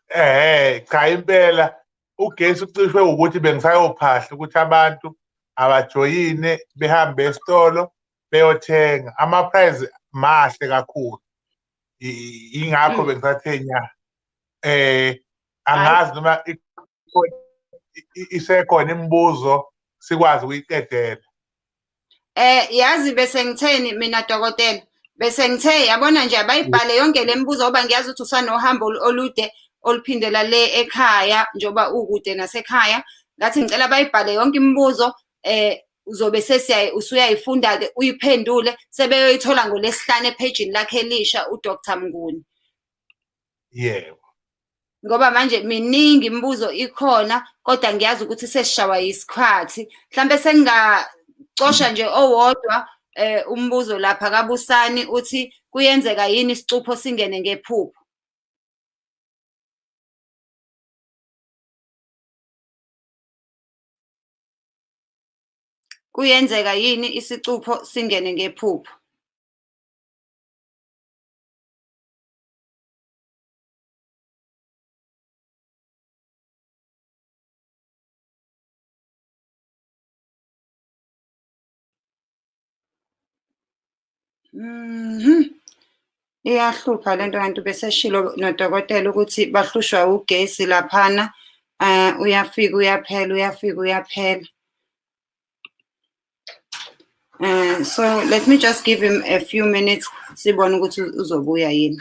Speaker 2: ehe
Speaker 1: cha impela ugesi ucishwe ukuthi bengisayophahla ukuthi abantu abajoyine behambe esitolo beyothenga ama-prize mahle kakhulu ingakho hmm. bengisathe nya eh angazi noma isekhona imibuzo sikwazi ukuyiqedela eh
Speaker 2: yazi bese ngitheni mina dokotela bese ngithe yabona nje abayibhale yonke le mibuzo ngoba ngiyazi ukuthi usanohambo olude oluphindela le ekhaya njengoba ukude nasekhaya ngathi ngicela bayibhale yonke imibuzo eh uzobe sesiyaye usuyayifunda-ke uyiphendule sebeyoyithola ngolesihlanu ephejini lakhe elisha udr mnguni
Speaker 1: yebo
Speaker 2: ngoba manje miningi imibuzo ikhona kodwa ngiyazi ukuthi sesishawa yisikhathi mhlambe sengingacosha nje owodwa eh umbuzo lapha kabusani uthi kuyenzeka yini isicupho singene ngephupho Kuyenzeka yini isicupho singene ngephupho? Mhm. Iyahlupha lento kanti ubeseshilo nodokotela ukuthi bahlushwa ugesi laphana eh uyafika uyaphela uyafika uyaphela. Eh so let me just give him a few minutes sibone ukuthi uzobuya yini.